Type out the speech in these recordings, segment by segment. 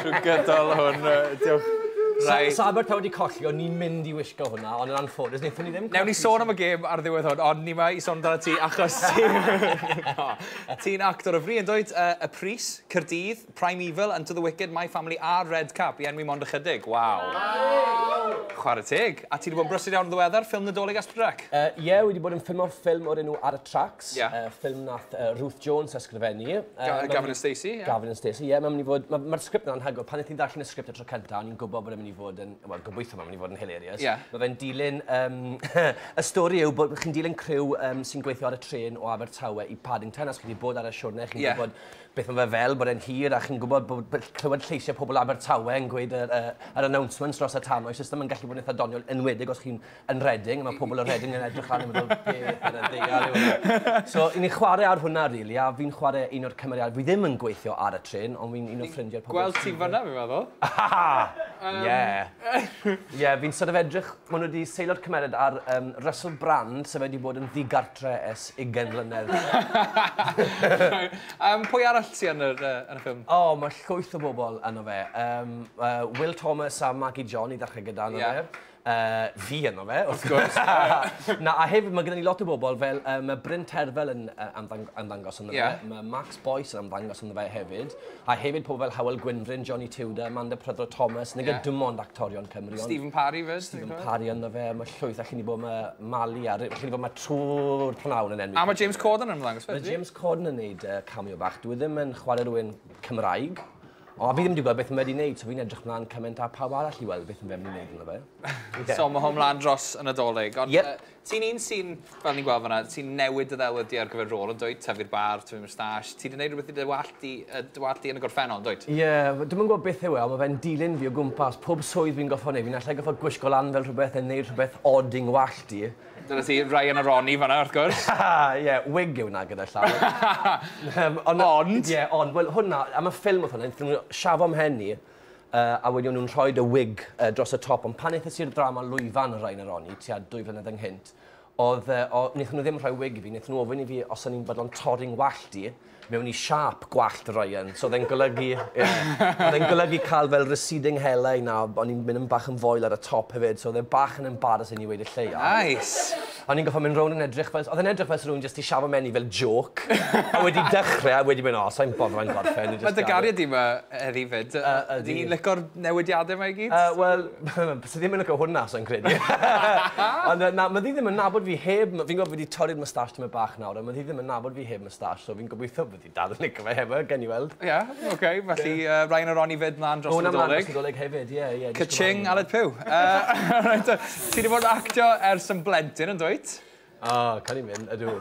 Trwy gydol hwn, diolch. Rai... Sa Abertawe wedi colli, o'n ni'n mynd i wisgo hwnna, ond yn anffodus, wnaethon ni ddim colli. Newn ni sôn am y gêm ar ddiwedd hwn, ond ni mae i sôn amdano ti achos ti... Ti'n actor o fri, yn dweud, uh, Y Pris, Cyrdydd, Prime Evil, Unto the Wicked, My Family a Red Cap, i enwi mond ychydig. Waw! Wow. Chwarae teg. A ti wedi bod yn brysur iawn yn ddiweddar, ffilm Nadolig Asperdrac? Ie, uh, yeah, wedi bod yn ffilm o'r ffilm o'r enw Ar y Trac. Ie. Yy ffilm nath yy Ruth Jones ysgrifennu. Yy ma'... Ga- Gavin and Stacey ie? Gavin and Stacey ie ma'n myn' i fod ma' ma'r script 'na anhygoel pan nes i ddarllen y script y tro cynta o'n i'n gwbo bod e'n myn' i fod yn wel gobeithio ma' myn' i fod yn hilarious. Ie. Ma' fe'n dilyn yym y stori yw bod chi'n dilyn criw yym sy'n gweithio ar y trên o Abertawe i Paddington a os chi 'di bod ar y siwrne chi'n... Ie. ...gwbod beth ma' fe fel bod e'n hir a chi'n gwbod bod by- clywed lleisiau pobl Abertawe yn gweud yr yy yr announcements dros y tannoy so jyst ddim yn gallu bod yn itha doniol enwedig os chi'n yn Reading, mae pobl o Reading yn edrych lan yn meddwl, be ar y ddeall yw hwnna. So, i ni chwarae ar hwnna, really, a fi'n chwarae un o'r cymeriadau. Fi ddim yn gweithio ar y tren, ond fi'n un o ffrindiau'r pobl. Gweld ti'n fanna, fi'n meddwl. Aha! Ie. Ie, fi'n sort of edrych, maen nhw wedi seilio'r cymeriad ar um, Russell Brand, sef wedi bod yn ddigartre es ugen mlynedd. um, pwy arall ti yn y, uh, yn y ffilm? O, oh, mae llwyth o bobl yno fe. Um, uh, Will Thomas a Maggie John i ddechrau gyda yno yeah. fe. Uh, fi yno fe, wrth gwrs. Na, a hefyd mae gennym ni lot o bobl fel, uh, mae Bryn Terfel yn uh, ymddangos ynddo yeah. fe, mae Max Boyce yn ymddangos ynddo fe hefyd, a hefyd pobl fel Howell Gwynfryn, Johnny Tudor, Amanda Prydro Thomas, nid yeah. dim ond actorion Cymru. Stephen Parry fe, Stephen Parry ynddo fe, mae llwyth allan i bod mae Mali, a allan i bod mae trwy'r pnawn yn enw. A mae James Corden yn ymddangos fe? Mae James Corden yn neud uh, cameo bach, dwi e ddim yn chwarae rhywun Cymraeg, O, fi ddim wedi gweld beth mae wedi wneud, so fi'n edrych mlaen cymaint a pawb arall i weld beth mae wedi wneud yn fe. Okay. So mae hwn mlaen dros y Nadolig. Ond yep. uh, ti'n un sy'n, fel ni'n gweld fanna, ti'n newid dy ddelwyddi ar gyfer rôl yn dweud, tyfu'r bar, tyfu'r moustache. Ti wedi gwneud rhywbeth i dy wallt di, uh, dy wallt di yn y gorffennol, dweud? Ie, yeah, dwi'n gwybod beth yw e, ond mae fe'n dilyn fi o gwmpas. Pob swydd fi'n goffa wneud, fi'n allai goffa gwisgo lan fel rhywbeth yn neud rhywbeth odd i'n wallt di. Dyna ti, Ryan a Ronnie fanna, wrth gwrs. Ie, wig yw 'na gyda llaw. Yym, ond... Ond? Ie, ond, wel, hwnna, am y ffilm oedd hwnna, wnaethon nhw shafo mhen i, yy, a wedyn o'n nhw'n rhoi y wig yy dros y top, ond pan aethais i'r ddrama lwyfan o Ryan a Ronnie, tua dwy flynedd ynghynt, oedd yy, o- wnaethon nhw ddim rhoi wig i fi, wnaethon nhw ofyn i fi os o'n i'n fodlon torri'n wallt i, mewn i siâp gwallt Ryan, so oedd e'n golygu, ie, oedd e'n golygu cael fel receding hairline a o'n i'n mynd yn bach yn foel ar y top hefyd, so oedd e bach yn embarrassing i weud y lleia. Nice! O'n i'n gorfod mynd rownd yn edrych fel, oedd e'n edrych fel se rhywun jyst di shafo mewn i fel jôc, a wedi dechre a wedi mynd, o, sai'n bothered, mae'n gorffen. Mae dy gariad di ma heddi fyd, ydi hi'n licor newidiadau ma i gyd? Yy, wel, byse ddim yn licio hwnna, sai'n credu. Ond yy, na, ma ddi ddim yn nabod fi heb, fi'n gwybod fi di torri'r moustache tymed bach nawr, ond ma ddi ddim yn nabod fi heb Star so fi'n gobeithio bod hi'n dal yn lico fe hefyd, gawn ni weld. Ie, ok, felly yy Ryan a Ronnie 'fyd mlan dros y Nadolig. Ma' hwnna mlan dros y Nadolig hefyd, ie, ie. Ka-ching, Aled Pugh. Yy reit te, ti 'di bod yn actio ers yn blentyn, yndwyt? O, cawn ni mynd, ydw.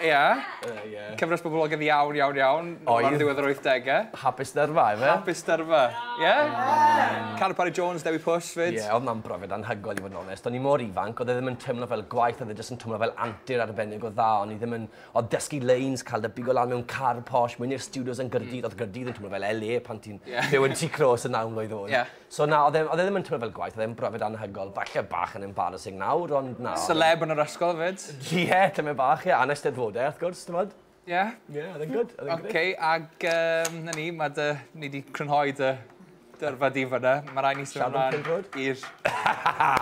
Ie. Yy, ie. Cyfres boblogedd iawn, iawn, iawn. Oedd. Ar ddiwedd yr wythdege. Hapus Dyrfa, ife? Hapus Dyrfa. Ie? Ie. Carw Parry Jones, Dewi Push 'fyd. Ie, oedd mam brofiad anhygoel i fod yn onest. O'n i mor ifanc, oedd e ddim yn teimlo fel gwaith, oedd e jyst yn twmlo fel antur arbennig o dda, o'n i ddim yn Odd dysgu lines, ca'l dy bigo lan mewn car posh, myn' i'r stiwdios yn Gyrdydd, odd Gyrdydd yn twmlo fel LA pan ti'n byw yn Tŷ Clôs y naw mlwydd oed. So na, odd e odd e ddim yn twmlo fel gwaith, odd e'n brofiad anhygoel, falle bach yn embarrassing nawr, ond na. Celeb yn yr ysgol 'fyd. Ie, tymed bach, ie, a 'na Eisteddfodau wrth gwrs, t'mod? Ie? Ie, odd e'n gwd, odd e'n grêt. Oce, ag yym, 'na ni, ma' dy... Ni 'di crynhoi dy Dyrfa di fyna. Mae rhaid ni sôn amdano Pindrod? i'r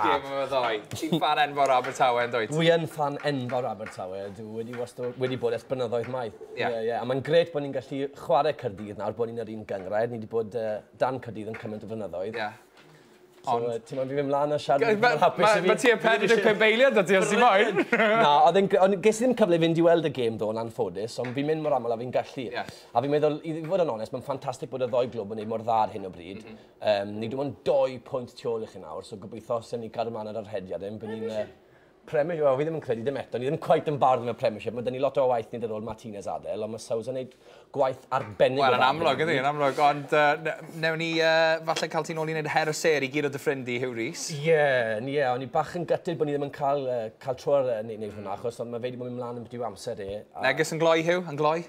gêm yma ddoe. Ti'n fan enfawr Abertawe yn dwyt? Dwi yn fan enfawr Abertawe. Dwi wedi, wasto, wedi bod ers blynyddoedd maith. Ie. Yeah. Yeah, yeah. A mae'n gret bod ni'n gallu chwarae Cyrdydd nawr, bod ni'n yr un gyngrair. Ni wedi bod uh, dan Cyrdydd yn cymaint o flynyddoedd. Ie. Yeah. So, Ond... ti'n mynd fi mynd mlaen a siarad yn hapus i fi. Mae ti yn 45 beiliad o ti os ti moyn. Na, ond ges i ddim cyfle i fynd i weld y gêm ddo yn anffodus, ond fi'n mynd mor aml a fi'n gallu. Yeah. A fi'n meddwl, i fod yn onest, mae'n ffantastig bod y ddoi glwb yn ei mor dda ar hyn o bryd. Mm -hmm. um, ni dim ond doi pwynt tu ôl i chi nawr, so gobeithio sy'n ni cadw mlaen ar yr hediad yn bod ni'n... Uh, Premiership, well, fi ddim yn credu ddim eto, ni ddim quite yn bardd yn y Premiership, mae dyn ni lot o waith nid ar ôl Martinez adael, ond mae Sousa yn gwneud gwaith arbennig well, o dda. Wel, yn amlwg ydy, yn amlwg, ond uh, newn ni uh, falle cael ti'n ôl i wneud her y ser i gyd o dy ffrind i, Hugh Rees. Ie, yeah, ie, yeah, o'n i bach yn gytid bod ni ddim yn cael, uh, cael tro ar uh, neud hwnna, achos mae fe wedi bod yn mynd mlaen yn byd amser e. A... Neges yn gloi, Hugh, yn gloi?